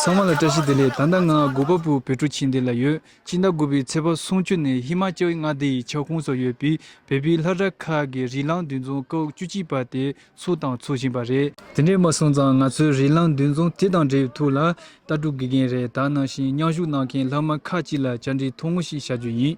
ཚང་མ་ལ་བཀྲ་ཤིས་བདེ་ལེགས་ད་ལྟ་ང་དགུ་པ་པོའི་བོད་ཕྲུག་ཆེན་འདི་ལ་ཡོད་སྤྱི་ཟླ་དགུ་པའི་ཚེས་པ་སུམ་བཅུ་ནས་ཧི་མ་ཅལ་མངའ་སྡེ་ཡི་ཁྱབ་ཁོངས་སུ་ཡོད་པའི་བལ་བོའི་ལྷ་བྲག་མཁར་གྱི་རི་གླང་འདུས་རྫོང་སྐབས་བཅུ་གཅིག་པ་དེ་ཚོ་དང་འཚོ་བཞིན་པ་རེད། དེ་འདྲས་མ་སོང་ཙང་ང་ཚོའི་རི་གླང་འདུས་རྫོང་དེ་དང་འབྲེལ་ཐུག་ལ་ལྟ་གྲུབ་དགེ་རྒན་རེ་ད་ནང་བཞིན་མཉམ་ཞུགས་གནང་མཁན་ལྷག་མ་ཁག་ཅིག་ལ་བཅར་འདྲི་ཐུང་ངུ་ཞིག་བྱ་རྒྱུ་ཡིན།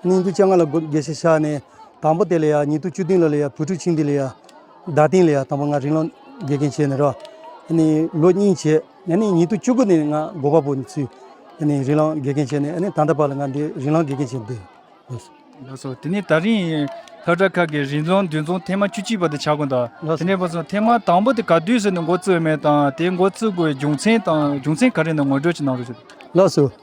སྙིང་དུ་སྤྱན་སྔ་ལ་དགེ་བཤེས་ཤ་ནས་དང་པོ་དེ་ལ་ཡང་ཉིད་དུ་བཅུ་བདུན་ལ་ལ་ཡང་བུ་ཕྲུག་ཆིང་འདི་ལ་ཡང་ཟླ་སྟེང་ལ་ཡང་དང་པོ་ང་རིང་ལོ་དགེ་རྒན་བྱས་ནས་རོ། ནི་ལོ་གཉིས་བྱས་ཡ་ནི་ཉིད་དུ་བཅུ་དགུ་ནས་ང་སྒོ་པ་པོ་ནི་ཚུལ་ཡ་ནི་རིང་ལོ་དགེ་རྒན་བྱས་ནས་ཡ་ནི་ད་ལྟ་བར་ལ་ང་འདི་རིང་ལོ་དགེ་རྒན་བྱས་འདི་ཡོད། ལགས་སོ་དེ་ནས་ད་རིང་ལྷ་བྲག་ཁག་གི་རིང་ལོ་འདུས་མཚུངས་ཐེངས་མ་བཅུ་གཅིག་པ་དེ་བྱ་དགོས་འདའ། དེ་ནས་བ་སོ་ཐེངས་མ་དང་པོ་དེ་ག་དུས་སུ་ནི་འགོ་བཙུགས་མེད་དང་དེ་འགོ་བཙུགས་དགོས་རྒྱུ་མཚན་དང་རྒྱུ་མཚན་ག་རེ་ནི་ངོ་སྤྲོད་ཅིག་གནང་རོགས་ཞུ། ལགས་སོ།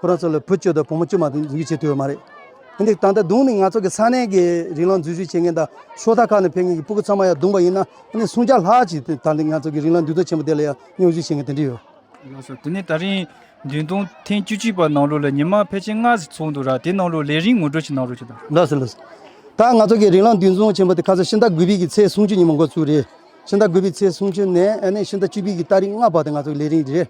ཁོ་རང་ཚོ་ལ་བུ་བཅུ་དང་བུ་མོ་བཅུ་མ་ཐོན་འཛིན་བྱེད་ཐུབ་ཡོད་མ་རེད། དེ་འདི་ད་ལྟ་བརྡུངས་ནས་ང་ཚོ་གི་ས་གནས་ཀྱི་རིག་ལམ་འཛུལ་ཞུགས་བྱེད་མཁན་དང་ཤོག་ཐག་ཁག་ནས་ཕེབས་མཁན་གྱི་སྤུ་གུ་ཚང་མ་ཡང་བརྡུངས་པ་ཡིན་ན་ཨ་ནི་སུམ་བརྒྱ་ལྷག་ཅིག་ད་འདི་ང་ཚོ་གི་རིག་ལམ་འདུས་སྡོད་ཆེན་པོ་དེ་ལ་ཡང་རྙོག་འཛིང་བྱེད་མཁན་དེ་འདྲས་ཡོད། ལགས་སོ། དེ་ནས་ད་རིང་འདུན་གཏོང་ཐེངས་བཅུ་གཅིག་པ་ནང་ལོ་ལ་ཉི་མ་ཕལ་ཆེར་སྔ་ཟིག་ཚོགས་འདུག་ར་དེ་ནང་ལོ་ལས་རིང་ངོ་སྤྲོད་ཅིག་གནང་རོགས་ཞུ་དང། ལགས་སོ་ལགས་སོ། ད་ང་ཚོ་གི་རིག་ལམ་འདུས་གཏོང་ཆེན་པོ་དེ་ཁ་སང་ཕྱི་ཟླ་དགུ་པིག་གི་ཚེས་སུམ་ཅུ་ཉིན་མ་འགོ་བཙུགས་རེད། ཕྱི་ཟླ་དགུ་པིག་ཚེས་སུམ་ཅུ་ནས་ཨ་ནི་ཕྱི་ཟླ་བཅུ་པིག་གི་ལྟ་རིགས་ལྔ་བར་དེ་ང་ཚོ་གི་ལས་རིང་རེད།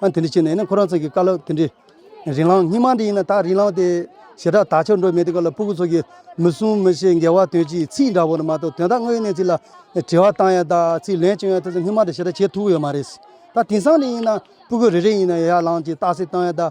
ཨ་དེ་འདྲ་བྱས་ནས་ཁོ་རང་ཚོ་གི་བཀའ་སློབ་དེ་འདྲའི་རིང་ལང་སྙིང་མ་འདི་ཡིན་ན་ད་རིང་ལང་དེ་ཞེ་དྲག་དག་ཆོག་འགྲོ་མེད་དེ་ཀ་ལ་སྤུ་གུ་ཚོ་གི་མི་གསུང་མི་བཤད་འགལ་བ་དོན་གྱིས་ཚིག་འདྲ་བོ་ནི་མ་གཏོགས་དོན་དག་དངོས་ཡོད་གནས་ཚིག་ལ་དྲི་བ་བཏང་ཡ་དག་ཚིག་ལན་བཅོན་ཡ་དེ་ཚོ་སྙིང་མ་འདྲ་ཞེ་དྲག་བྱེད་ཐུབ་ཡོད་མ་རེད། ད་དེང་སང་འདི་ཡིན་ན་སྤུ་གུ་རེ་རེ་ཡིན་ན་ཡར་ལང་གྱི་རྟགས་གསལ་བཏང་ཡ་དག་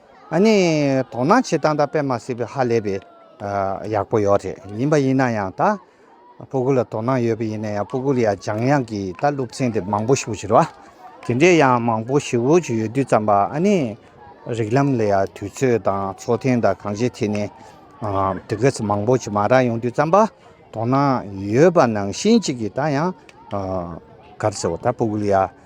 ཨ་ནི་དོ་སྣང་བྱེད་སྟངས་དང་པད་མ་སྲིད་པའི་ཧ་ལས་པའི་ཡག་པོ་ཡོད་རེད་ཡིན་པ་ཡིན་ན་ཡང་ད་ཕོ་ཁུ་ལ་དོ་སྣང་ཡོད་པ་ཡིན་ན་ཡང་ཕོ་ཁུ་ལ་ཡང་འཇང་དབྱངས་ཀྱི་ད་ལུགས་མཆན་དེ་མང་པོ་ཞུ་བཞིར་བ་དེ་འདྲའི་ཡང་མང་པོ་ཞུ་བཞི་ཡོད་དུས་ཙམ་པ་ཨ་ནི་རིགས་ལམ་ལ་ཡང་དུས་ཚོད་དང་ཚོགས་ཐེངས་དང་གང་བྱེད་ཐེངས་ནས་དེ་གས་མང་པོ་ཞིག་མ་རག་ཡོང་དུས་ཙམ་པ་དོ་སྣང་ཡོད་པ་ནང་བཞིན་གཅིག་གིས་ད་ཡང་གར་ཟེར་བ་ད་ཕོ་ཁུ་ལ་ཡང།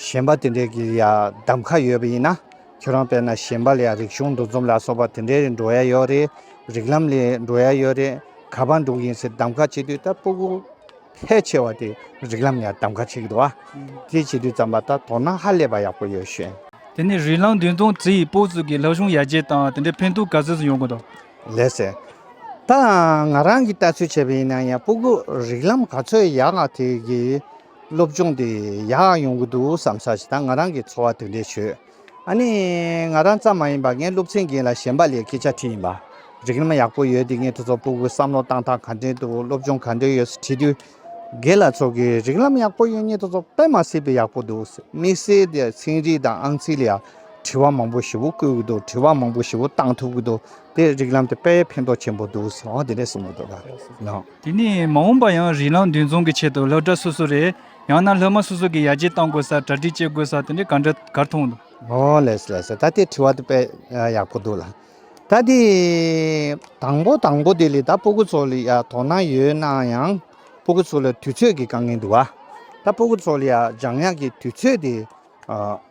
གཞན་པ་དེ་འདྲའི་གི་ཡང་གདམ་ཁ་ཡོད་པ་ཡིན་ན་ཁྱོད་རང་དཔེར་ན་གཞན་པ་ལ་ཡང་རིག་གཞུང་འདུ་འཛོམས་ལ་སོགས་པ་དེ་འདྲའི་རེ་འགྲོ་ཡ་ཡོད་རེད་རིག་ལམ་ལས་འགྲོ་ཡ་ཡོད་རེད་ག་པར་འགྲོ་གི་ཡིན་ཟེར་གདམ་ཁ་བྱེད་དུས་ད་སྤོ་སྒུག་ཕལ་ཆེ་བ་དེ་རིག་ལམ་ལ་ཡང་གདམ་ཁ་བྱེད་ཀྱི་འདུག་ཨ་དེ་བྱེད་དུས་ཙམ་ལ་ད་དོ་སྣང་ཧ་ལས་པ་ཡག་པོ་ཡོད་ཤེས། དེ་ནས་རིག་ལམ་འདུན་ཙོང་ཙི་ཡིས་སྤོ་གསུག་གི་ལྷ་གཞུང་ཡར་རྒྱས་དང་དེ་འདྲའི་ཕན་ཐོག་ག་ཚོད་ཟིན་ཡོང་གི་འདུག། ལེ་ཟེར། ད་ང་རང་གིས་ལྟ་ཚུལ་བྱས་པ་ཡིན་ན་ཡང་སྤོ་སྒུག་རིག་ལམ་ག་ཚོད་ཡག་ཨ་དེ་གི། སློབ་སྦྱོང་དེ་ཡག་ཡོང་གི་འདུག་བསམ་ས་ཞིག་དང་ང་རང་གི་འཚོ་བ་དེ་འདྲས་བྱོས། ཨ་ནི། ང་རང་ཙམ་མ་ཡིན་པར་ངའི་སློབ་ཚན་རྒན་ལ་གཞན་པ་ལས་སྐད་ཆ་དྲིས་ཡིན་པ། རིག་རིམ་ཡག་པོ་ཡོད་དེ་ངས་ཁྲོ་ཚོགས་པུ་གུ་བསམ་བློ་བཏང་སྟངས་ག་འདྲས་འདུག་སློབ་སྦྱོང་ག་འདྲས་ཡོད་ཟེར་དྲིས་དུས། རྒན་ལགས་ཚོ་གིས་རིག་རིམ་ཡག་པོ་ཡོད་ངས་ཁྲོ་ཚོགས་པད་མ་སྲིད་པའི་ཡག་པོ་འདུག་ཟེར་དམིགས་བསལ་དེ་ཚན་རིག་དང་ཨང་རྩིས་ལ་ཡང་དྲི་བ་མང་པོ་ཞེ་བོ་བཀོད་གི་འདུག་དྲི་བ་མང་པོ་ཞེ་བོ་བཏང་ཐུབ་གི་འདུག་དེས་རིག་རིམ་དེ་དཔེ་ཕན་ཐོགས་ཆེན་པོ་འདུག་ཟེར་བ་དེ་འདྲས་གསུངས་གི་འདུག་ག། དེ་ནས་མ་འོངས་པར་ཡང་རིགས་ལམ་འདུལ་འཛོམས་ཀྱི་ཆེད་དུ་སློབ་གྲྭ་སོ་སོ་རེད་ཡང་ན་སློབ་མ་སོ་སོ་གིས་ཡར་རྒྱས་གཏང་དགོས་ས་གྲ་སྒྲིག་བྱེད་དགོས་ས་དེ་འདྲ་ག་འདྲ་གར་མཐོང་འདུག། ཨོ་ལེས་ལེས་ད་དེ་དྲི་བ་དེ་དཔེ་ཡག་པོ་འདུག་ལ། ད་དེ་དང་པོ་དང་པོ་དེ་ལས་ད་སྤོ་གུ་ཚོ་ལ་ཡང་དོ་སྣང་ཡོད་ན་ཡང་སྤོ་གུ་ཚོ་ལ་དུས་ཚོད་ཀྱི་དཀའ་ངལ་འདུག་ད་སྤོ་གུ་ཚོ་ལ་ཡང་འཇང་དབྱངས་ཀྱི་དུས་ཚོད་དེ།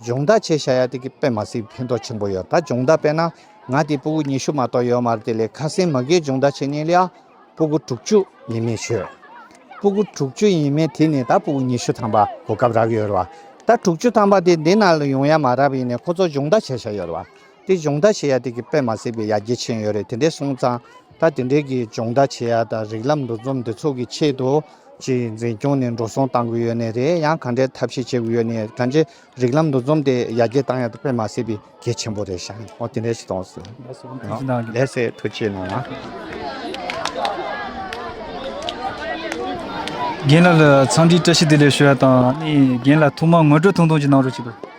སྦྱོང་བརྡར་བྱས་བྱ་ཡ་དེ་གི་པད་མ་སིའི་ཕན་ཐོག་ཆེན་པོ་ཡོད་ད་སྦྱོང་བརྡར་པས་ན་ང་དེ་སྤུ་གུ་ཉི་ཤུ་མ་གཏོགས་ཡོད་མ་རེད་དེ་ལས་ཁ་སིན་མ་གིའི་སྦྱོང་བརྡར་བྱས་ཉིན་ལ་ཡ་སྤུ་གུ་དྲུག་བཅུ་ཡིན་མིན་ཤོད། སྤུ་གུ་དྲུག་བཅུ་ཡིན་མིན་དེ་ནི་ད་སྤུ་གུ་ཉི་ཤུ་ཐམ་པ་གོ་སྐབས་རག་ཡོད་རེད་བ། ད་དྲུག་བཅུ་ཐམ་པ་དེ་འདི་ན་ལ་ཡོང་ཡ་མ་རག་པའི་ནས་ཁོ་ཚོ་སྦྱོང་བརྡར་བྱས་བྱ་ཡོད་རེད་བ། དེ་སྦྱོང་བརྡར་བྱེད་ཡ་དེ་གི་པད་མ་སྲིད་པའི་ཡ་གྱལ་ཆེན་ཡོད་རེད་དེ་འདྲས་སོང་ཙང་ད་དེ་འདྲས་གི་སྦྱོང་བརྡར་བྱེད་ཡ་དང་རིགས་ལམ་འདུ་འཛོམས་འདི་ཚོ་གི་ཆེད་དུ་གཅིག་འཛིན་སྐྱོང་ནས་འགྲོ་སོང་གཏང་གི་ཡོད་ནི་རེད་ཡང་གང་འདྲས་ཐབས་ཤེས་བྱེད་གི་ཡོད་ནི་གང་ཅི་རིགས་ལམ་འདུ་འཛོམས་དེ་ཡ་གྱལ་གཏང་ཡ་དེ་པད་མ་སྲིད་པའི་གྱལ་ཆེན་པོ་རེད་ཤ་ཨོ་དེ་འདྲས་ཞིག་གཏོང་སོང་ལས་སེ་ཐུགས་ཆེ་གནང་རྒན་ལགས་ལ་ཚང་འདྲིའི་བཀྲ་ཤིས་བདེ་ལེགས་ཞུ་ཡ་དང་ནི་རྒན་ལ་ཐུགས་མ་དངོས་བྲོ་ཐུང་ཐུང་ཅིག་གནང་རོགས་གྱིས།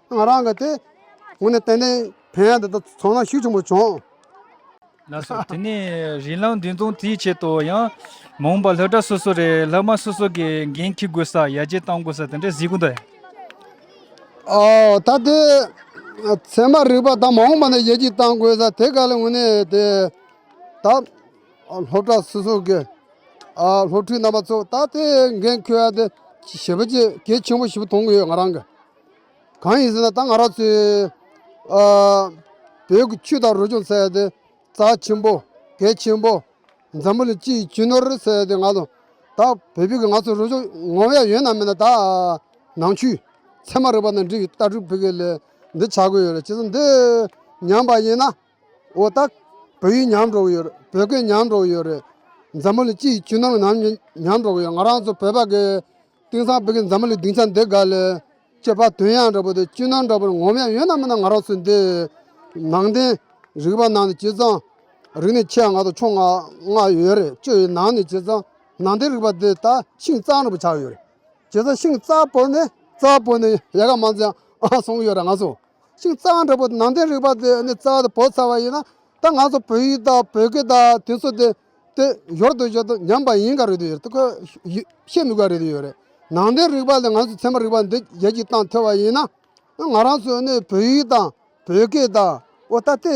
ང་རང་གིས་དེ་ངོ་ནས་ཏན་ཏན་བོན་ཡིག་འདི་དག་ཚང་ན་ཤུགས་ཆེན་པོ་བྱུང། ལགས་སོ། དེ་ནས་རིན་ལམ་འདི་མཚུངས་དེའི་ཆེད་དུ་ཡང། མོང་པ་ལྷ་གྲྭ་སོ་སོ་རེ་ལྷག་མ་སོ་སོ་གི་འགན་འཁྱེར་དགོས་ས་ཡར་རྒྱས་གཏང་དགོས་ས་དེ་འདྲའི་གཟིགས་སྐོར་དང། ཨོ་ད་དེ་ཚད་མ་རིག་པ་དང་མ་འོངས་པ་ནས་ཡར་རྒྱས་གཏང་དགོས་ས་དེ་ག་ལ་ངོ་ནས་དེ་ད་སློབ་གྲྭ་སོ་སོ་གི་སློབ་ཕྲུག་རྣམ་པ་ཚོ་ད་དེ་འགན་འཁྱེར་བ་དེ་ཞེ་པོ་གཅིག་གལ་ཆེན་པོ་ཞིག་མཐོང་གི་ཡོད་ང་རང་གིས། གང་ཡིན་ཟེར་ན་ད་ང་རང་ཚོའི་བོད་ཀྱི་ཆོས་དང་རོལ་ཆུང་ཟེར་བ་དེ་རྩ་ཆེན་པོ་གལ་ཆེན་པོ་འཛམ་བུ་ལ་སྤྱི་ཡི་བྱིས་ནོར་ཟེར་བ་དེ་ང་ཚོ་ད་བོད་བོད་ཀྱི་ང་ཚོ་རོལ་ཆུང་ངོ་ཡ་ཡོད་ན་མེད་ན་ད་ནང་ཆོས་ཚད་མ་རིག་པ་དང་འབྲེལ་བའི་ལྟ་གྲུབ་བོད་སྐད་ལས་འདི་བྱ་དགོས་ཡོད་རེད་བྱས་ཙང་འདི་ཉམས་པ་ཡིན་ན། འོ་ད། བོད་ཡིག་ཉམས་འགྲོ་གི་ཡོད་རེད་བོད་སྐད་ཉམས་འགྲོ་གི་ཡོད་རེད། འཛམ་བུ་ལ་སྤྱི་ཡི་ཆུ་ནང་ཉམས་ཉམས་འགྲོ་གི་ཡོད་ང་རང་ཚོ་བོད་པ་གི། དེང་སང་བོད་ཀྱི་འཛམ་བུ་ལའི་སྡིངས་ཆ་འདི་ག་ལ། སྤྱི་བ་དོན་ཡག་འདྲ་བོ་དེ་སྤྱི་ནང་འདྲ་བོ་ངོམ་ཡག་ཡོད་ན་མིན་ན་ང་རང་ཚོ་འདི། ནང་བསྟན། རིག་པ་ནང་ནས་སྤྱི་ཚང། རིག་གནས་ཆེད་ང་ཚོ་ཕྱོགས་ང་ང་ཡོད་རེད་སྤྱི་ཡི་ནང་ནས་སྤྱི་ཚང། ནང་བསྟན་རིག་པ་འདི་ད་ཤིང་གཙང་འདྲ་བོ་ཆགས་ཡོད་རེད། སྤྱི་ཚང་ཤིང་གཙང་བོར་ནས་གཙང་བོར་ནས་ཡལ་ག་མང་ཙམ་ཡང་སོང་གི་ཡོད་རེད་ང་ཚོ། ཅིག་རྩ་བ་འདྲ་པོ་ནང་བསྟན་རིག་པ་དེ་ནི་རྩ་བ་དང་བོ་ཚ་བ་ཡིན་ན་ད་ང་ཚོ་བོད་ཡིག་དང་བོད་སྐད་དང་དེ་ཚོ་དེ་དེ་ཡོར་དུ་ཡོད་དོ་ཉམས་པ་ཡིན་ག་རེད་དུ་ཡོད་དུ་ཁོ་ཤེས་མི་དགོས་རེད་དུ་ཡོད་རེད་ནང་བསྟན་རིག་པ་ལས་ང་ཚོ་ཚད་མ་རིག་པ་འདི་རྒྱལ་སྤྱིའི་སྟངས་ཐོས་བ་ཡིན་ན་ང་རང་ཚོས་ནི་བོད་ཡིག་དང་བོད་སྐད་དང་འོ་ད་དེ།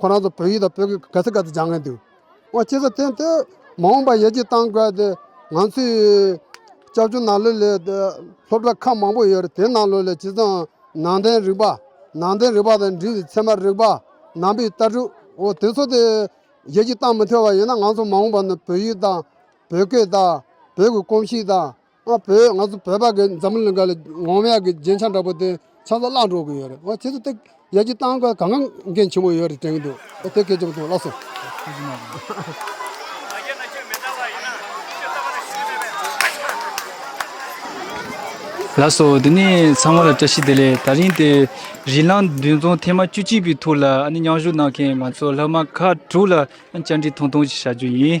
ཁོ་རང་ཚོ་བོད་ཡིག་དང་བོད་སྐད་ག་ཚོད་ག་ཚོད་སྦྱང་གིན་འདུག་ཨོ་སྐྱིད་ས་དེ་འདི་མ་འོངས་པར་ཡར་རྒྱས་གཏང་དགོས་ཏེ་ང་ཚོའི་སྐྱབས་བཅོལ་ནང་ལོས་ལས་སློབ་གྲྭ་ཁག་མང་པོ་ཡོད་རེད་དེ་ནང་ལོས་ལས་བྱེད་ཙང་ནང་བསྟན་རིག་པ་ནང་བསྟན་རིག་པ་དང་འབྲེལ་བའི་ཚད་མ་རིག་པ་ནང་པའི་ལྟ་གྲུབ་ཨོ་དེ་ཚོ་དེ་ཡར་རྒྱས་གཏང་མི་ཐུབ་པ་ཡིན་ན་ང་ཚོ་མ་འོངས་པ་ནི་བོད་ཡིག་དང་བོད་སྐད་དང་བོད་ཀྱི་གོམས་གཤིས་དང་ཨ་བོད་ང་ཚོ་བོད་པ་གི་འཛམ་བུ་གླིང་ག་ལ་ངོ་མ་ཡག་གི་རྗེན་ཆ་འདྲ་པོ་དེ་ཆ་ཚ་བརླག་འགྲོ་གི་ཡོད་རེད་ཨོ་ཁྱེད་ཚོ་དེ་ཡག་གི་བཏང་གི་གང་གང་འགན་ཆེན་པོ་ཡོད་རེད་དྲན་གི་འདུག་ཨོ་དེ་སྐད་ཆེན་པོ་ཐོང་བརླག་སོང། ལགས་སོ་དེ་ནས་ཚང་མ་ལ་བཀྲ་ཤིས་བདེ་ལེགས་ད་རིང་དེ་རི་ལང་བདུན་རྫོང་ཐེན་མ་བཅུ་གཅིག་པའི་ཐོག་ལ་ཨ་ནི་མཉམ་ཞུགས་གནང་མཁན་ང་ཚོ་ལྷག་མ་ཁག་དྲུག་ལ་བཅར་འདྲི་ཐུང་ཐུང་ཞིག་བྱ་རྒྱུ་ཡིན།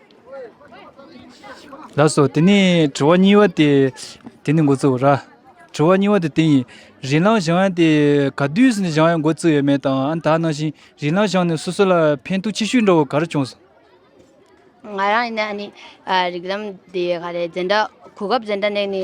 ལ་སོགས་དེ་ནས་དྲི་བ་གཉིས་པ་དེ་དེ་ནི་འགོ་བཙུགས་ར་དྲི་བ་གཉིས་པ་དེ་དེ་ཡིན་རིན་ལང་ཞང་ཡང་དེ་ག་དུས་སུ་ནས་ཞང་ཡང་འགོ་བཙུགས་ཡོད་མེད་དང་ཨ་ད་ནང་བཞིན་རིན་ལང་ཞང་ནས་སོ་སོ་ལ་ཕན་ཐོག་ཆེ་ཤོས་འགྲོ་བ་ག་རེ་བྱུང་སོང། ང་རང་ཡིན་ན་ནི་རིགས་ལམ་དེ་ག་རེ་འཛིན་གྲྭ་གོ་སྐབས་འཛིན་གྲྭ་ནས་ནི་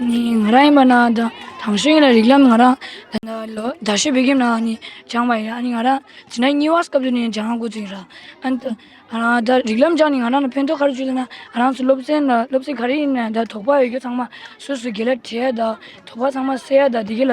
ང་རང་ཡིན་པ་ན་ད་དང་ཤོས་ཡིན་ལ་རིགས་ལམ་ང་རང་ད་ཤོད་བོད་ཁྱིམ་ནང་ནས་སྦྱངས་པ་ཡིན་ཨ་ནི་ང་རང་ཇི་ན་གཉིས་བ་སྐབས་དེ་ནས་སྦྱངས་ཡག་དགོས་ཚུལ་ཡིན་ར་ཨ་ནི་ད་རིགས་ལམ་སྦྱངས་ནས་ང་རང་ལ་ཕན་ཐོག་ག་རེ་བྱུང་ཟེར་ན་ང་རང་ཚོ་སློབ་ཚན་ལ་སློབ་ཚན་ག་རེ་ཡིན་ན་ད་དོགས་པ་ཡོད་རྒྱུ་ཚང་མ་སུ་སུ་དགེ་ལ་བྲིས་ཡ་ད་དོགས་པ་ཚང་མ་སེལ་ཡ་ད་དེ་ག་ལ་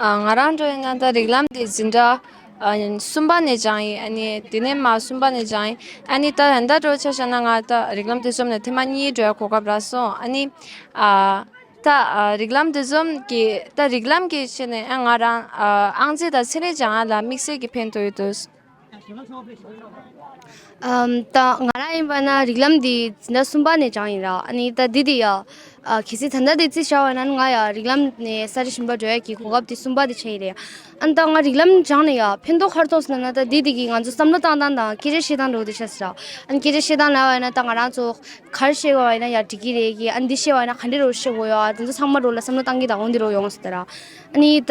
ང་རང་འགྲོ་ཡི་ན་ད་རིག་ལམ་དེ་འཛིན་འདྲ། གསུམ་པ་ནས་སྦྱངས་ཡིན་ཨ་ནི་དེ་ནས་མ་གསུམ་པ་ནས་སྦྱངས་ཡིན་ཨ་ནི་ད་ད་ལྟ་འགྲོ་ཆ་ཤ་ན་ང་ད་རིག་ལམ་དེ་ཟོམ་ནས་ཐེངས་མ་གཉིས་འགྲོ་ཡ་གོ་སྐབས་རག་སོང་ཨ་ནི། ད་རིག་ལམ་དེ་ཟོམ་གྱི་ད་རིག་ལམ་གྱི་ཆེད་ནས་ཨ་ང་རང་ཨང་རྩིས་དང་ཚན་རིག་སྦྱངས་ཡ་ལ་དམིགས་བསལ་གྱི་ཕན་ཐོགས་ཡོད་དུས། ད་ང་རང་ཡིན་པ་ན་རིགས་ལམ་འདི་འཛིན་གྲྭ་གསུམ་པ་ནས་སྦྱངས་ཡིན་ར་ཨ་ནི་ད་འདི་དེ་ཡ་གལ་སྲིད་ད་ལྟ་དེ་རྩིས་བྱ་བ་ན་ང་ཡ་རིགས་ལམ་ནས་གསར་རེ་ཞིམ་པ་འགྲོ་ཡ་གི་གོ་སྐབས་དེ་གསུམ་པ་དེ་བྱས་ཡི་རེད་ཨ་ནི་ད་ང་རིགས་ལམ་སྦྱངས་ནས་ཡ་ཕན་ཐོག་ཁར་ཐོག་སོང་ན་ད་འདི་དེ་གི་ང་ཚོ་བསམ་བློ་བཏང་སྟངས་དང་སྐད་ཆ་བཤད་སྟངས་འགྲོ་འདི་ཤ་ཟེར་ར་ཨ་ནི་སྐད་ཆ་བཤད་སྟངས་ལ་བ་ན་ད་ང་རང་ཚོ་གར་བཤད་དགོས་བ་ཡིན་ན་ཡ་འགྲིག་གི་རེད་གི་ཨ་ནི་འདི་བཤད་བ་ན་ག་འདྲི་རུ་བཤད་དགོས་ཡ་དེ་ཚོ་ཚང་མ་འགྲོ་ལ་བསམ་བློ་བཏང་གི་ད་འོང་འདི་རུ་ཡོང་ཟེར་ར་ཨ་ནི་ད་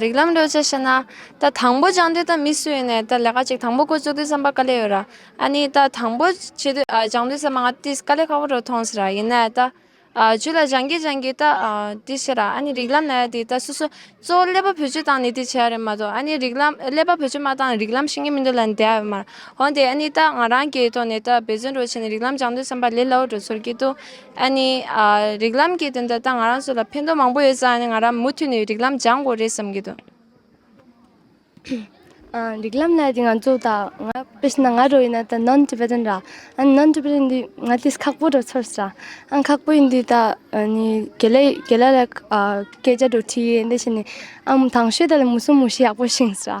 རིགས་ལམ་བློས་བྱས་བཤད་ན། ད་དང་པོ་སྦྱངས་དུས་ད་མི་སུ་ཡིན་ནས་ད་ལས་ཀ་གཅིག་དང་པོ་བསྐོ་བཅུག་དུས་བསམ་པ་དཀའ་ལས་ཡོད་ར་ཨ་ནི་ད་དང་པོ་བྱེད་དུས་སྦྱངས་དུས་བསམ་པ་ང་དེ་དཀའ་ལས་ཁག་པོ་རུ་མཐོང་ཟེར་ར་ཡིན་ནས་ད་བྱུས་ལ་སྦྱངས་གིས་སྦྱངས་གིས་ད་དེ་བཤད་ར་ཨ་ནི་རིགས་ལམ་ལས་དེ་ད་སུ་སུ་གཙོ་བོ་ཀླད་པ་བུ་བཅུ་བཏང་ནས་དེ་བྱས་རེད་མ་གཏོགས་ཨ་ནི་རིགས་ལམ་ཀླད་པ་བུ་བཅུ་མ་བཏང་རིགས་ལམ་ཤེས་ཀྱི་མི་འདུག་ལ་འདས་ཡ་ཡོད་མ་ར་འོན་ཏེ་ཨ་ནི་ད་ང་རང་གི་ཐོག་ནས་ད་འབད་བརྩོན་རུ་བྱས་ནས་རིགས་ལམ་སྦྱངས་དུས་བསམ་པ་ལས་སླ་བོ་རུ་ཚོར་གྱི་འདུག་ཨ་ནི། རིགས་ལམ་གྱི་དོན་དུ་ད་ང་རང་ཚོ་ལ་ཕན་ཐོགས་མང་པོ་ཡོད་ས་ནི་ང་རང་མུ་མཐུད་ནས་རིགས་ལམ་སྦྱང་དགོས་རེད་བསམ་གྱི་འདུག། རིགས་ལམ་ལ་དེ་ང་ཚོ་ད་ང་བོད་ཕྱི་ན་ང་རོ་ཡིན་ན་ད་ནོན་ཏི་བེ་རེན་ར། ཨན་ནོན་ཏི་བེ་རེན་འདི་ང་དེ་སི་ཁག་པོ་རུ་ཚོར་ས། ཨན་ཁག་པོ་ཡིན་དུས་ད་ནི་གེ་ལེ་གེ་ལ་ལ་སྐད་ཆ་འགྲོ་ཁྲིད་ཡེ་འདི་བྱེད་ནས་ཨམ་ཐང་ཤོད་ད་ལ་མུ་སུམ་མུ་ཤི་ཡག་པོ་བྱིན་ས།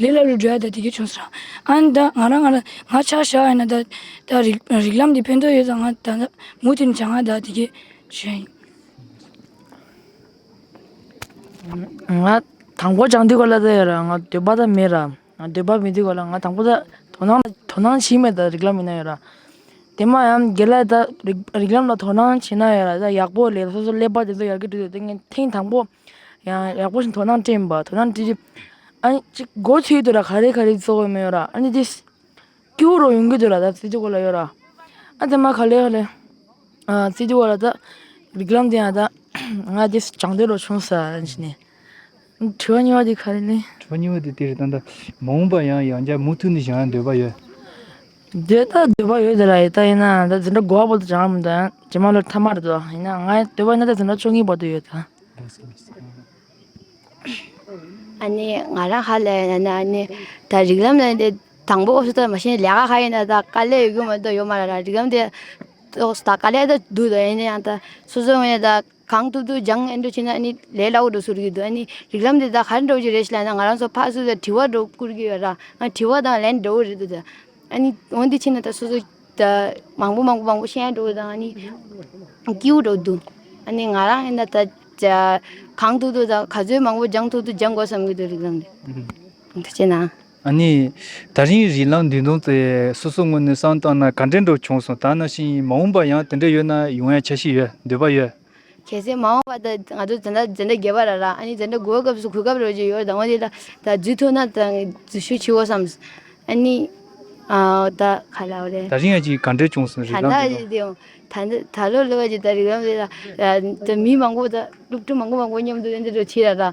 ལས་ལ་རུ་དྲའི་ད་དེ་གས་བྱུང་ཟེར་རང་ཨ་ནི་ད་ང་རང་ང་ད་ང་ཆ་བཞག་ཡ་ན་ད་ད་རིག་རིག་ལམ་དེ་ཕན་ཐོག་ཡོད་ད་ང་ད་ད་མུ་མཐུད་ནས་བྱ་ང་ད་དེ་གས་བྱོས། ང་དང་པོ་བྱང་དུས་གོ་ལ་ད་ཡོད་རང་ང་འདོད་པ་ད་མེད་རང་ང་འདོད་པ་མེད་དུས་གོ་ལ་ང་དང་པོ་ད་དོ་སྣང་ད་དོ་སྣང་བྱས་མེད་ད་རིག་ལམ་ཡོད་ན་ཡོད་རང། དེ་མ་ཡང་འགལ་ལ་ད་རིག་རིག་ལམ་ལ་དོ་སྣང་བྱས་ན་ཡོད་རང་ད་ཡག་པོ་ལས་སོ་སོ་ཀླད་པ་དེ་ཚོ་ཡར་གི་འགྲོ་དེ་ཚོ་ངས་ཐེངས་དང་པོ་ཡང་ཡག་པོ་ཞིག་དོ་སྣང་སྤྲིངས་པ་དོ་སྣང་སྤྲིངས་རྗེས་ཨ་ནི་ཅིག་སྒོ་ཕྱེ་དུས་ལ་ག་རེ་ག་རེ་བཙོག་ཡོད་མེད་ཡོད་ར་ཨ་ནི་དེ་སྐྱིད་པོ་རོགས་ཡོང་གི་འདུག་ལ་ད་ཙི་ཙི་གོ་ལ་ཡོད་ར་ཨ་དེ་མ་ག་ལེ་ག་ལེ་ཨ་ཙི་ཙི་གོ་ལ་ད་རིགས་ལམ་དེ་ཡང་ད་ང་དེ་བྱང་སྡོད་རོགས་བྱུང་ས་ཞེས་ནས་དྲི་བ་གཉིས་པ་དེ་ག་རེ་ལེ། དྲི་བ་གཉིས་པ་དེ་དེ་རེད་ད་ད་མ་འོངས་པ་ཡང་ཡང་བསྐྱར་མུ་མཐུད་ནས་བྱ་འདོད་པ་ཡོད། འདི་ལྟར་འདོད་པ་ཡོད་དེ་ལ་ཡི་དྭགས་ཡིན་ན་ད་འཛིན་གྲྭ་དགོ་བ་པོ་དང་བྱང་བ་པོ་དང་རྗེས་མ་ལོ་ཐ་མར་དུ་ཡིན་ན་ང་འདོད་པ་ཡིན་ན་ད་འཛིན་གྲྭ་བཅོ་ལྔའི་བར་དུ་ཡོད་དང། ཨཱ་ནི་ང་རང་ཧ་ལས་ཡིན་ན་ནི་ཨཱ་ནི་ད་རིགས་ལམ་ལས་འདི་དང་པོ་ཨོ་ཏོ་མ་ཤེས་ལས་ཀ་ཧ་ཡིན་ན་ད་དཀའ་ལས་ཡོད་རྒྱུ་མ་འདི་ཡོད་མ་རེད་ར་རིགས་ལམ་དེ་ཏོག་ད་དཀའ་ལས་ད་འདུག་ད་ཡིན་ན་ཡང་ད་སོ་སོའི་ངོས་ནས་ད། གང་ཐུབ་ཐུབ་སྦྱངས་ཨེ་འགྲོ་བྱས་ན་ཨ་ནི་ལས་སླ་བོ་འགྲོ་ཟུར་གྱི་འདུག་ཨ་ནི་རིགས་ལམ་དེ་དག་ག་རེ་འགྲོ་རྒྱུ་རེད་ཞེས་ལབ་ན་ང་རང་ཚོ་ཕར་སུ་ལ་དྲི་བ་འགྲོ་བསྐུར་གྱི་ཡོད་ད་ང་དྲི་བ་དང་ལན་འགྲོ་གི་རེད་འདུག་ད་ཨ་ནི་འོན་ཏེ་ཕྱིན་ན་ད་སོ་སོ་ད་མང་པོ་མང་པོ་མང་པོ་བཤད་འགྲོ་གི་དང་ཨ་ནི་སྐྱིའུ་འགྲོ་འདུག་ཨ་ནི་ང་རང་ཨེ་འདྲ་ད་གང་ཐུབ་ཐུབ་ད་ག་ཚོད་མང་པོ་སྦྱངས་ཐུབ་ཐུབ་སྦྱངས་དགོས་བསམ་གྱི་འདུག་རིགས་ལམ་དེ་འདུག་བྱས་ན་ཨ་ནི། ད་རིང་རི་ལངས་མདུན་ཐུང་ཚེ་སོ་སོ་ངོ་ནས་སང་བཏང་ན་ག་འདྲེ་འགྲོ་བྱུང་སོང་ད་ན་ཤིང་མ་འོངས་པ་ཡང་དེ་འདྲེ་ཡོད་ན་ཡོང་ཡ་ཆ་ཤིག་ཡོད་འདོད་པ་ཡོད། གལ་སྲིད་མ་འོངས་པ་ད་ང་ཚོ་ཛན་དྲ་ཛན་དྲ་རྒྱས་པ་ར་ར་ཨ་ནི་ཛན་དྲ་དགུ་བ་སྐབས་སུ་གུས་སྐབས་རོལ་གྱི་ཡོད་ད་ངོ་དེ་ད་ད་རྫུས་ཐུག་ན་ད་རྫུས་ཤུ་འཆི་འོ་བསམས་ཨ་ནི། ཨ་འོ་ད་ཁ་ལ་འོ་རེད། ད་རིང་ཨ་ཅིག་ག་འདྲེ་བྱུང་སོང་རི་ལངས་མདུན་ཐུང། ད་འདི་ད་ལོ་ལོ་བ་ཅིག་ད་རི་ལངས་མདུན་ཐུང་ད་ད་མི་མང་པོ་ད་སློབ་ཕྲུག་མང་པོ་མང་པོ་མཉམ་དུ་ཡོད་འདི་འགྲོ་ཆེ་ར་ར།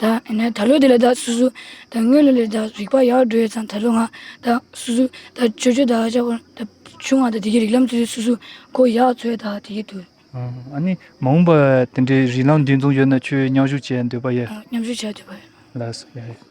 ད་ལོ་དེ་ལ་ད་སུ་སུ། དངུལ་ལོ་ལས་ད་རིག་པ་ཡག་འགྲོ་ཡོད་ཙང་ད་ལོ་ང། ད་སུ་སུ། ད་ཆོས་ཆོས་ད་ཧ་ཅང་བོར། ད་ཆུང་བ་ད་དེ་གི་རིག་ལམ་ཚུལ་དེ་སུ་སུ། ཁོ་ཡག་ཚོད་ད་དེ་གི་དུས། ཨ་ནི་མ་འོངས་པ་དེ་འདྲའི་རིག་ལམ་འདི་འཛོམས་ཡོད་ན་ཁྱོས་མཉམ་ཞུགས་བྱེད་འདོད་པ་ཡོད། མཉམ་ཞུགས་བྱེད་འདོད་པ་ཡོད། ལགས་སོ།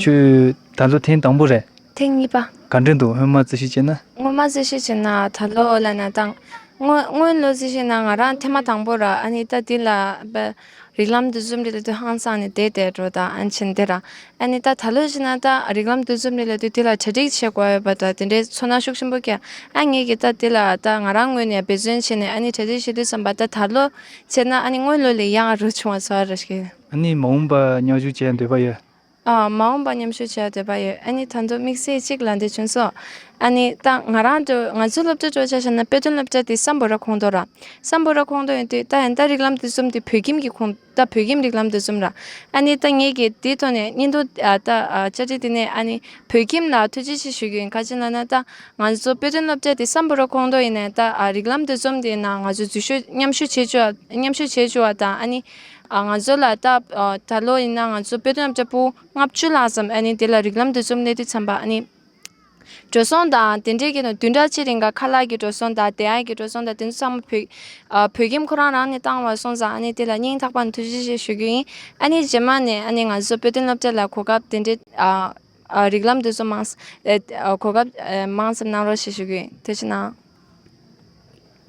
ཁྱོད་ད་ལོ་ཐེངས་དང་པོ་རེད། ཐེངས་གཉིས་པ། ག་འདྲས་འདུག་སྔོན་མ་རྩིས་ཞིབ་བྱས་ན། སྔོན་མ་རྩིས་ཞིབ་བྱས་ན་ད་ལོ་བསླད་ན་ཐང། སྔོན་ལོ་རྩིས་ཞིབ་ན་ང་རང་ཐེངས་མ་དང་པོ་ར་ཨ་ནི་ད་དེ་ལ་རིགས་ལམ་འདུ་འཛོམས་རེ་ལ་དུས་ཧང་སང་ནས་དེད་དེད་འགྲོ་ད་ཨན་ཕྱིན་དེ་ར་ཨ་ནི་ད་ད་ལོ་བྱས་ན་ད་རིགས་ལམ་འདུ་འཛོམས་རེ་ལ་དུས་དེ་ལ་གྲ་སྒྲིག་བྱེད་དགོས་ཡོད་པ་ད་དེ་འདྲའི་ཚོར་སྣང་ཤུགས་ཆེན་པོ་སྐྱེས་ཨ་ངེད་ཀྱིས་ད་དེ་ལ་ད་ང་རང་ངོས་ནས་འབད་བརྩོན་བྱས་ནས་ཨ་ནི་གྲ་སྒྲིག་བྱེད་དུས་བསམ་པ་ད་ད་ལོ་བྱས་ན་ཨ་ནི་སྔོན་ལོ་ལས་ཡག་རུ་བྱུང་བ་ཚོར་བ་ར་ཤེས། ཨ་ནི་མ་འོངས་པར་མཉམ་ཞུགས་བྱེད་འདོད་པ་ཡོད། ཨ་མ་འོངས་པར་མཉམ་ཞུགས་བྱེད་འདོད་པ་ཡོད། ཨ་ནི་ད་དུང་དམིགས་བསལ་གཅིག་ལ་འདོད་བྱུང་སོང། ཨ་ནི། ད་ང་རང་དུ་ང་ཚོའི་སློབ་གྲྭའི་སྤྲོ་འཆར་བཤད་ན་དཔེ་སྟོན་སློབ་གྲྭ་དེ་སམ་བོ་ར་ཁོངས་གཏོགས་ར། སམ་བོ་ར་ཁོངས་གཏོགས་ཡིན་དུས་ད་ཡང་ད་རིགས་ལམ་འདི་གསུམ་དེ་བོད་ཁྱིམ་གྱི་ཁོངས་ད་བོད་ཁྱིམ་རིགས་ལམ་འདི་གསུམ་ར། ཨ་ནི་ད་ངེད་ཀྱིས་དེའི་ཐོག་ནས་སྙན་ཐོ་ད་བཅར་འདྲི་དེ་ནས་ཨ་ནི་བོད་ཁྱིམ་ལ་ཐུགས་རྗེ་ཆེ་ཞུ་རྒྱུ་ཡིན་ག་ཅི་ལ་ན་ད་ང་ཚོ་དཔེ་སྟོན་སློབ་གྲྭ་དེ་སམ་བོ་ར་ཁོངས་གཏོགས་ཡིན་ནས་ད་རིགས་ལམ་འདི་གསུམ་དེ་ནང་ང་ཚོ་འཛུལ་ཞུགས་མཉམ་ཞུགས་བྱེད་འཇུག་མཉམ་ཞུགས་བྱེད་འཇུག་བ་དང་ཨ་ནི། ང་ཚོ་ལ་སྟབས་ད་ལོ་ཡིན་ན་ང་ཚོ་དཔེ་སྟོན་ལྕགས་པོ་ལྔ་བཅུ་ལྷག་ཙམ་ཨ་ནི་དེ་ལ་རིགས་ལམ་དུ་རྩོམ་ལེན་དུ་འཚམས་པ་ཨ་ནི། འགྲོ་སོང་དང་དེ་འབྲེལ་གྱི་ནང་དུས་འདྲ་ཆེ་རིང་ག་ཁ་ལག་གི་འགྲོ་སོང་དང་དེ་ཨའི་གི་འགྲོ་སོང་དང་དེ་ཚོ་ཚང་མ་བོད་བོད་ཁྱིམ་ཁོ་རང་རང་ནས་བཏང་བ་སོང་ཙང་ཨ་ནི་དེ་ལ་སྙིང་ཐག་པ་ནས་ཐུགས་རྗེ་ཆེ་ཞུ་རྒྱུ་ཡིན་ཨ་ནི་རྗེས་མ་ནས་ཨ་ནི་ང་ཚོ་དཔེ་སྟོན་སློབ་གྲྭ་ལ་གོ་སྐབས་དེ་འདྲའི་རིགས་ལམ་དེ་ཚོ་མང་གོ་སྐབས་མང་ཙམ་གནང་རོགས་ཞེས་ཞུ་རྒྱུ་ཡིན་དེ་ཕྱིར་ན།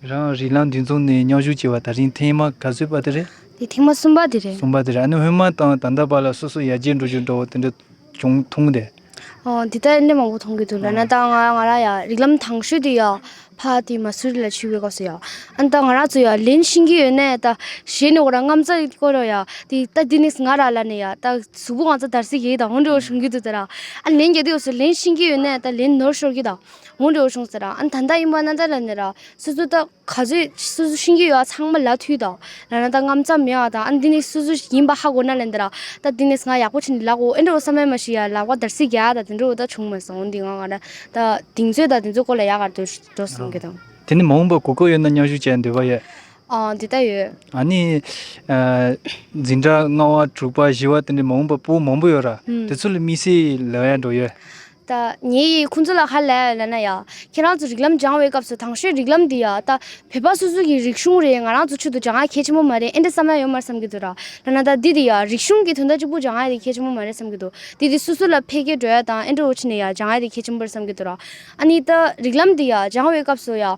རང་རིག་ལམ་དུས་མཚུངས་ནས་སྙོམས་ཞུགས་བྱེད་པ་ད་རིང་ཐེངས་མ་ག་ཚོད་པ་དེ་རེད། འདི་ཐེངས་མ་གསུམ་པ་དེ་རེད། གསུམ་པ་དེ་རེད་ཨ་ནི་སྔོན་མ་དང་ད་ལྟ་བར་ལ་སོ་སོ་ཡར་རྒྱས་འགྲོ་རྒྱུ་འདྲ་བོ་དེ་འདྲ་བྱུང་མཐོང་གི་རེད། འོ་འདི་ལྟར་ནད་མང་པོ་མཐོང་གི་འདུག་ལ་ན་ད་ང་ང་རང་ཡང་རིག་ལམ་དྭངས་ཤོས་དེ་ཡང་ཕ་དེ་མ་སུ་རི་ལ་བྱིས་པའི་སྐབས་སུ་ཡང་ཨ་ནི་ད་ང་རང་ཚོ་ཡང་ལེན་ཤེས་ཀྱི་ཡོད་ནས་ད་གཞས་ནས་ཁོ་རང་རྔམ་ཙག་ཁོ་རང་ཡང་དེ་ད་དེ་ནས་ང་རང་ལ་ནི་ཡང་ད་གཟུགས་པོ་ང་ཚོ་དར་སའི་གཞས་དང་འོན་འགྲོ་བ་བྱུང་གི་འདུག་ད་རང་ཨ་ལེན་རྒྱབ་དེ་ཡོད་སུ་ལེན་ཤེས་ཀྱི་ཡོད་ནས་ད་ལེན་ནོར་ཤོར་གྱི་དང། ངོ་འབྲི་བར་བྱུང་ཟེར་ར་ཨ་ད་ལྟ་ཡིན་པ་ན་ད་ལ་ནས་ར་སོ་སོ་ད་ག་ཚོད་སོ་སོ་ཤེས་ཀྱི་ཡོད་ཚང་མ་ལ་ཐུག་ད་ལ་ན་ད་ངམ་ཙམ་མེད་ཨ་ད་ཨ་འདི་ནས་སོ་སོ་ཡིན་པ་ཧ་གོ་ན་ལ་འདི་ར་ད་འདི་ནས་ང་ཡག་པོ་བྱས་འདི་ལག་འོ་ཨེ་འགྲོ་བ་ས་མ་མ་ཞིག་ཡ་ལག་པ་དར་སིག་ག་ད་དེ་འགྲོ་བ་ད་བྱུང་མ་སོང་འདི་ང་ང་ར་ད་དེང་ཚོད་ད་དེ་ཚོད་སྐོར་ལ་ཡག་ག་འགྲོ་འགྲོ་སོང་གི་དང། དེ་ནས་མ་འོངས་པར་གོ་སྐབས་ཡོད་ན་མཉམ་ཞུགས་བྱེད་འདོད་པ་ཡོད། ཨ་འོ་འདི་ད་ཡོད། ཨ་ནི། འཛིན་གྲྭ་ལྔ་བ་དྲུག་པ་བཞི་བ་དེ་འདྲའི་མ་འོངས་པར་སྤུན་མང་པོ་ཡོད་ར་དེ་ཚོ་ལ་དམིགས་བསལ་ལོས་ཡག་འགྲོ་ཡོད། ད་ངེད་ཡིས་ཁོང་ཚོ་ལ་ཧ་ལས་ལ་ན་ཡ། ཁྱེད་རང་ཚོ་རིགས་ལམ་སྦྱང་བའི་སྐབས་སུ་དྭང་ཤོས་རིགས་ལམ་འདི་ཡ། ད་བོད་པ་སོ་སོ་གི་རིག་གཞུང་རེད་ང་རང་ཚོ་ཆུད་དུ་བྱ་ང་གལ་ཆེན་པོ་མ་རེད་ཨེ་འདྲ་བསམ་ན་ཡོད་མར་བསམ་གི་འདུག་ར། ལ་ན་ད་འདི་འདི་ཡ་རིག་གཞུང་གི་དོན་དག་གཅིག་པུ་བྱ་ང་དེ་གལ་ཆེན་པོ་མ་རེད་བསམ་གི་འདུག་འདི་འདི་སུ་སུ་ལ་ཕེ་ཀེ་འགྲོ་ཡ་དང་ཨེ་འགྲོ་བོ་ཆི་ནས་ཡ་བྱ་ང་དེ་གལ་ཆེན་པོ་རེད་བསམ་གི་འདུག་ར། ཨ་ནི་ད་རིགས་ལམ་འདི་ཡ་སྦྱང་བའི་སྐབས་སུ་ཡ།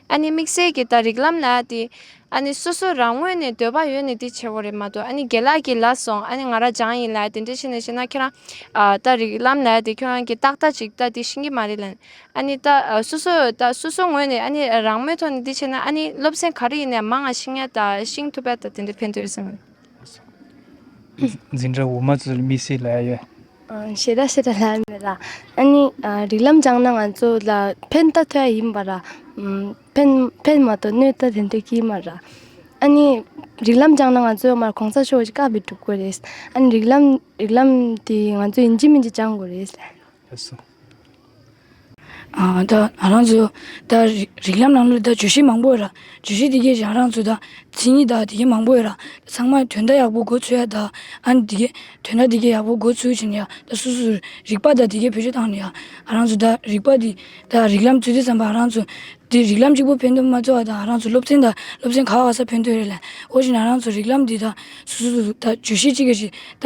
ཨ་ནི་དམིགས་བསལ་གྱི་ད་རིག་ལམ་ལ་དེ། ཨ་ནི་སོ་སོ་རང་ངོས་ནས་འདོད་པ་ཡོད་ནི་དེ་ཆེ་བོ་རེད་མ་གཏོགས་ཨ་ནི་དགེ་ལགས་ཀྱིས་ལ་སོང་ཨ་ནི་ང་ར་ཇང་ཡིན་ལ་དེ་འདྲས་བྱས་ནས་བྱས་ན་ཁྱེད་རང། ད་རིག་ལམ་ལ་དེ་ཁྱོད་རང་གི་ཏག་ཏག་ཅིག་ད་དེ་ཤེས་ཀྱི་མ་རེད་ལན། ཨ་ནི་ད་སོ་སོ་ད་སོ་སོ་ངོས་ནས་ཨ་ནི་རང་མོས་ཐོག་ནས་དེ་བྱས་ན་ཨ་ནི་སློབ་ཚན་ག་རེ་ཡིན་ནའི་མ་ང་ཤེས་ངའི་ད་ཤིང་ཐུབ་པས་ད་དེ་འདྲས་ཕན་ཐོགས་ཡོད་སེམས། འཛིན་གྲྭ་འོག་མ་ཚོ་ལ་མི་སེར་ལབ་ཡོད། ཤེས་ར་ཤེས་ར་ལབ་ཡོད་ལ། ཨཱ་ནི་རིགས་ལམ་སྦྱངས་ན་ང་ཚོ་ལ་ཕན་བཏགས་ཐོ་ཡ་ཡིན་པ་ར། ཕན་ཕན་མ་གཏོགས་གནོད་ཐོ་དེ་འདྲ་གི་མ་ར། ཨཱ་ནི་རིགས་ལམ་སྦྱངས་ན་ང་ཚོ་མར་གོང་ས་མཆོག་གི་བཀའ་མི་སྒྲུབ་དགོས་རེད། ཨཱ་ནི་རིགས་ལམ་རིགས་ལམ་དེ་ང་ཚོ་ཡིན་གྱི་མིན་གྱི་སྦྱངས་དགོས་རེད། ལྷ་སོ། ད་རང་ཚོ་ད་རིགས་ལམ་ནང་ལོ་ད་བརྗོད་གཞི་མང་པོ་ཡོད་ར་བརྗོད་གཞི་དེ་གས་ཀྱང་རང་ཚོ་ད་མཚན་ཉིད་ད་དེ་གས་མང་པོ་ཡོད་ར་ཚང་མ་དོན་དག་ཡག་པོ་འགོ་ཚུལ་ཡ་ད་ཨན་དེ་གས་དོན་དག་དེ་གས་ཡག་པོ་འགོ་ཚུལ་བྱེད་ནས་ཡ་ད་སུ་སུ་རིགས་པ་ད་དེ་གས་བེད་སྤྱོད་བཏང་ནས་ཡ་རང་ཚོ་ད་རིགས་པ་དེ་ད་རིགས་ལམ་ཚུལ་དེ་བསམ་པ་རང་ཚོ་དེ་རིགས་ལམ་གཅིག་པོ་ཕན་ཐོག་མ་ཚོ་ཨ་ད་རང་ཚོ་སློབ་ཚན་ད་སློབ་ཚན་ག་ག་ས་ཕན་ཐོག་རེད་ལ་ཨོ་ཞེ་ན་རང་ཚོ་རིགས་ལམ་དེ་ད་སུ་སུ་ད་བརྗོད་གཞི་གཅིག་གས་ཞིག་ད་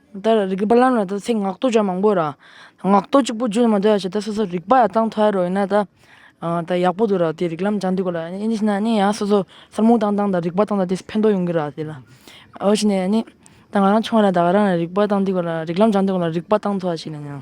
ད་རེ་རིག་པ་ལམ་ལ་ད་ཚིག་ངག་བསྟོད་བྱ་མང་པོ་ར། ངག་བསྟོད་གཅིག་པུ་བརྗོད་ནས་མ་སྡོད་ཡ་བྱས་ད་སོ་སོ་རིག་པ་ཡ་བཏང་ཐོ་ཡ་རོ་ཡིན་ན་ད། ད་ཡག་པོ་འདུག་ར་དེ་རིག་ལམ་སྦྱང་དུས་སྐོར་ལ་ཡ་ནི་ཤི་ན་ནི་ཡ་སོ་སོ་སར་མུ་བཏང་བཏང་ད་རིག་པ་བཏང་ད་དེ་ཕན་ཐོག་ཡོང་གི་ར་དེ་ལ། འོ་ཤི་ནས་ཡ་ནི་ད་ང་རང་ཆུང་བ་ར་ད་ང་རང་ར་རིག་པ་བཏང་དུས་སྐོར་ལ་རིག་ལམ་སྦྱང་དུས་སྐོར་ལ་རིག་པ་བཏང་ཐོ་ཡ་ཤི་ན་ཡང།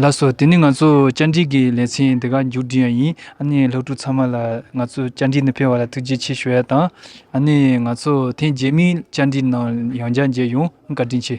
ལགས་སོ། དེ་ནི་ང་ཚོ་བཅར་འདྲི་གི་ལེ་ཚན་འདི་ག་མཇུག་བསྒྲིལ་ཡ་ཡིན། ཨ་ནི་སློབ་ཕྲུག་ཚང་མ་ལ་ང་ཚོ་བཅར་འདྲི་འདི་ཕེལ་བ་ལ་ཐུགས་རྗེ་ཆེ་ཞུ་ཡ་དང། ཨ་ནི་ང་ཚོ་ཐེངས་རྗེས་མའི་བཅར་འདྲི་ནང་ཡང་བཅར་མཇལ་ཡོང་བཀའ་དྲིན་ཆེ།